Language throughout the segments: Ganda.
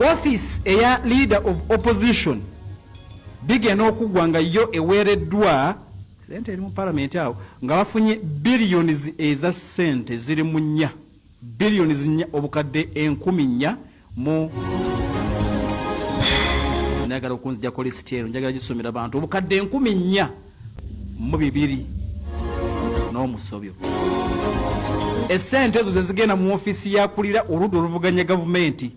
Office eya leader of opposition bigenda okuggwa nga yo eweereddwa sente eri mu palamenti awo nga bafunye billions eza sente ziri mu nnya billions nnya obukadde enkumi nnya mu njagala okunzijako lisiti ero njagala gisomera bantu obukadde enkumi nnya mu bibiri n'omusobyo essente ezo zezigenda mu ofiisi yakulira oludda oluvuganya gavumenti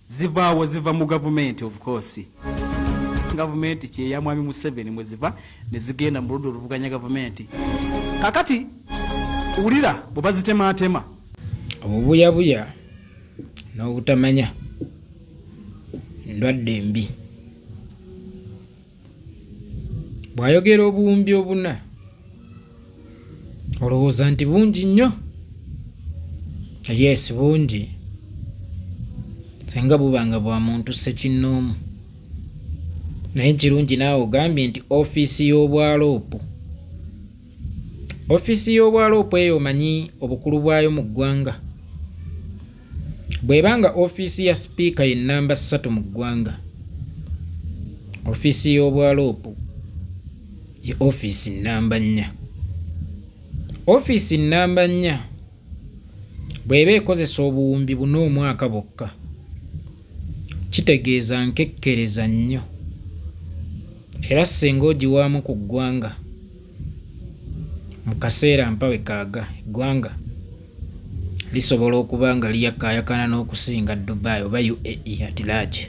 zivaawo ziva mu gavumenti of course gavumenti kyeya mwami museveni mweziva nezigenda mu ludda oluvuganya gavumenti kakati wulira bwe bazitemaatema obubuyabuya n'obutamanya ndwadde mbi bw'ayogera obuwumbi obuna olowooza nti bungi nnyo yes bungi senga buba nga bwa muntu ssekinnoomu naye kirungi naawe ogambye nti ofiisi y'obwaloopu ofiisi y'obwaloopu eyo omanyi obukulu bwayo mu ggwanga Bw'eba nga ofiisi ya Sipiika ye nnamba ssatu mu ggwanga, ofiisi y'Obwaloopu ye ofiisi nnamba nnya. Ofiisi nnamba nnya bw'eba ekozesa obuwumbi buna omwaka bwokka, kitegeeza nkekkereza nnyo era ssinga ogiwaamu ku ggwanga, Mu kaseera mpawe kaaga, eggwanga lisobola okuba nga liyakaayakana n'okusinga Dubai oba UAE at large.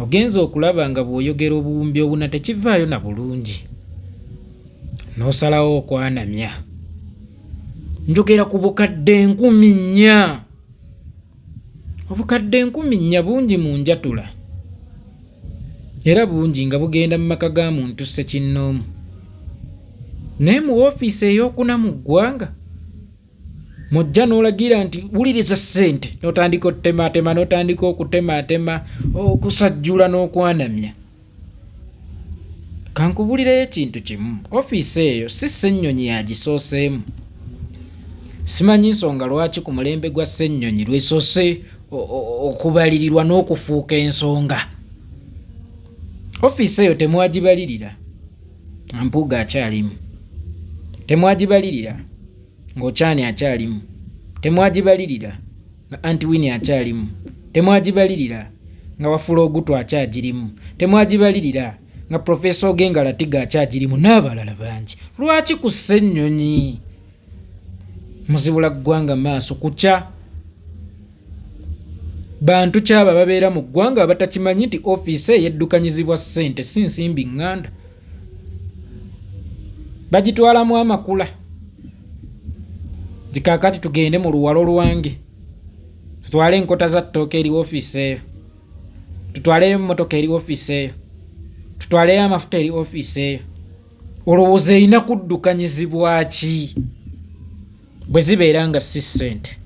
Ogenze okulaba nga bw'oyogera obuwumbi obuna tekivaayo na bulungi n'osalawo okwanamya. Njogera ku bukadde nkumi nnya. Obukadde enkumi nnya bungi mu njatula era bungi nga bugenda mu maka ga muntu ssekinnoomu naye mu woofiisi ey'okuna mu ggwanga mujja n'olagira nti wuliriza ssente n'otandika otutemaatema n'otandika okutemaatema okusajjula n'okwanamya Kankubulireyo ekintu kimu, ofiisi eyo si Ssenyonyi yagisooseemu. Simanyi nsonga lwaki ku mulembe gwa Ssenyonyi lwesoose okubalirirwa n'okufuuka ensonga. Ofiisi eyo temwagibalirira nga Mpuuga akyalimu, temwagibalirira ng'Okyani akyalimu, temwagibalirira nga anti winnie akyalimu temwagibalirira nga wafula ogutu akyagirimu temwagibalirira nga profesa ogenga latiga akyagirimu n'abalala bangi lwaki ku ssennyonyi muzibula ggwanga maaso kukya bantu kyaba babeera mu ggwanga abatakimanyi nti ofiisi eyeddukanyizibwa ssente si nsimbi nganda bagitwalamu amakula zikakati tugende mu luwalo lwange tutwale enkota za ttooka eri ofiisi eyo tutwaleyo emmotoka eri ofiisi eyo tutwaleyo amafuta eri ofiisi eyo olowooza erina kuddukanyizibwa ki bwe zibeera nga si ssente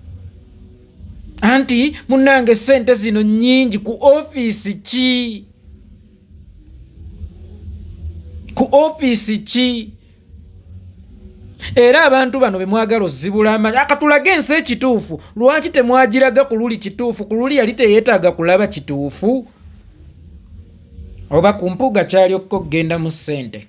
anti munange ssente zino nnyingi ku ofiisi ki ku ofiisi ki era abantu bano be mwagala ozibula amanyi akatulaga ensi ekituufu lwaki temwagiraga ku luli kituufu ku luli yali teyeetaaga kulaba kituufu oba ku mpuuga kyali okukogenda mu ssente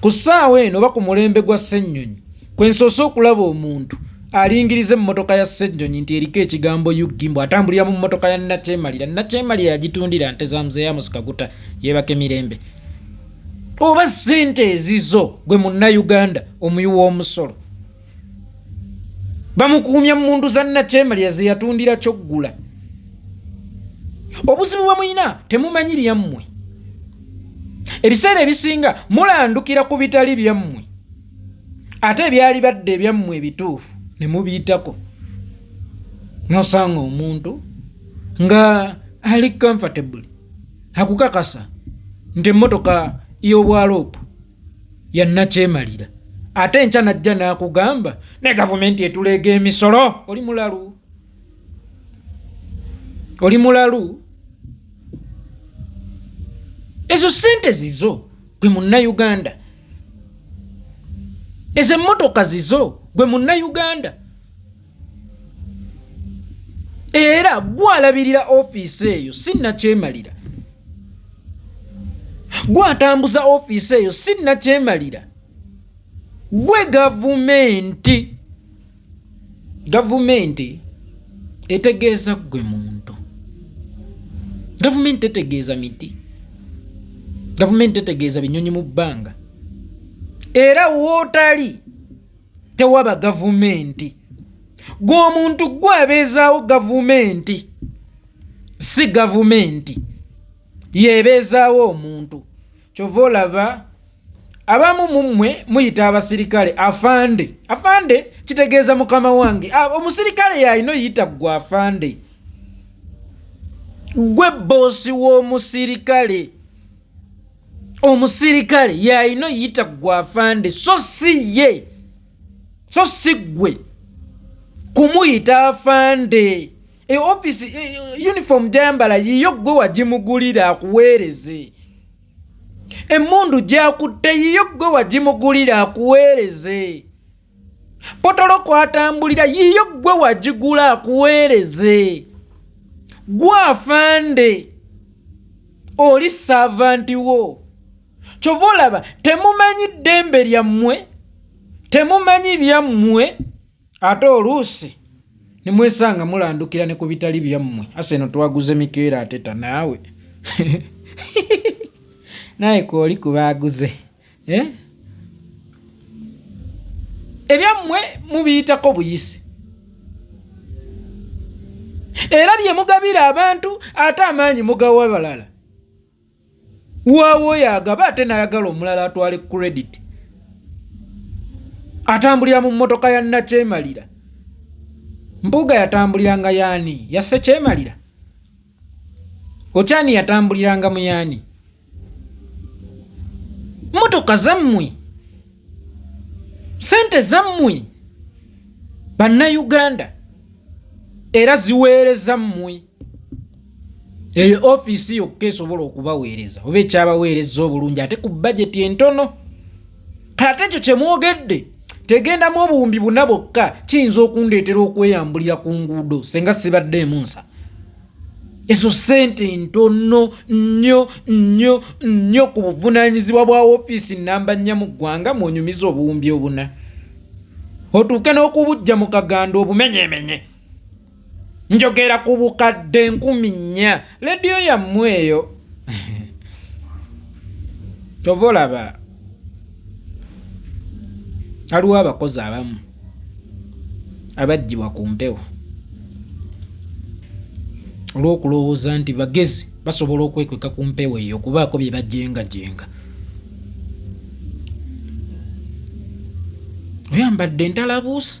Ku ssaawa eno oba ku mulembe gwa Ssennyonyi kwe nsoose okulaba omuntu alingiriza emmotoka ya Ssennyonyi nti eriko ekigambo UG mbu atambulira mu mmotoka ya Nnakyemalira. Nnakyemalira yagitundira nte za Mzee Amos Kaguta yeebake mirembe. Oba ssente ezizo gwe Munnayuganda omuyi w'omusolo? bamukuumya mu mundu za nakyemalira ze yatundira kyoggula obuzibu bwe mulina temumanyi byammwe ebiseera ebisinga mulandukira ku bitali byammwe ate ebyali badde ebyammwe ebituufu ne mubiyitako nosanga omuntu nga ali comfortable akukakasa nti emmotoka y'obwaloopu yannakyemalira ate enkya najja n'akugamba ne gavumenti etuleega emisolo oli mulalu oli mulalu ezo sente zizo gwe munnayuganda ezo emmotoka zizo gwe munnayuganda era gwalabirira ofiisi eyo si nakyemalira gwatambuza ofiisi eyo si nakyemalira gwe gavumenti gavumenti etegeeza gwe muntu gavumenti tetegeeza miti gavumenti tetegeeza binyonyi mu bbanga era wootali tewaba gavumenti gwe omuntu gwe abeezaawo gavumenti si gavumenti yebeezaawo omuntu kyova olaba abamu mummwe muyita abasirikale afande afande kitegeeza mukama wange ah, omusirikale yalina oyita gwe afande gwe boosi w'omusirikale omusirikale yalina oyita gwe afande so si ye so si gwe kumuyita afande e ofisi e, e, uniform gyayambala yiyo gwe wagimugulira akuweereze emmundu gyakutte yiyo gwe wagimugulira akuweereze potolo kwatambulira yiyo gwe wagigula akuweereze gwe afande oli saavanti wo kyova olaba temumanyi ddembe lyammwe temumanyi byammwe ate oluusi nemwesanga mulandukira ne ku bitali byammwe ase eno twaguze mikeera ateta naawe naye kooli kubaaguze eh? ebyammwe mubiyitako buyisi era bye mugabira abantu ate amaanyi mugawa balala waawo yagaba ate nayagala omulala atwale credit atambulira mu mmotoka ya nakyemalira mpuuga yatambuliranga yaani yasse kyemalira Okyani yatambuliranga mu yaani? Mmotoka zammwe, ssente zammwe, bannayuganda era ziweereza mmwe. Eyo ofiisi yokka esobola okubaweereza oba ekyabaweereza obulungi ate ku bajeti entono. kata ekyo kye mwogedde tegendamu obuwumbi buna bwokka kiyinza okundeetera okweyambulira ku nguudo senga sibadde emunsa ezo ssente ntono nnyo nnyo nnyo ku buvunaanyizibwa bwa ofiisi nnamba nnya mu ggwanga mwonyumiza obuwumbi obuna otuuke n'okubujja mu kaganda obumenyemenye njogera ku bukadde nkumi nnya lediyo yammwe eyo kyova olaba aliwo abakozi abamu abajjibwa ku mpewo olw'okulowooza nti bagezi basobola okwekweka ku mpewo eyo okubaako bye bajengajenga oyambadde entalabuusi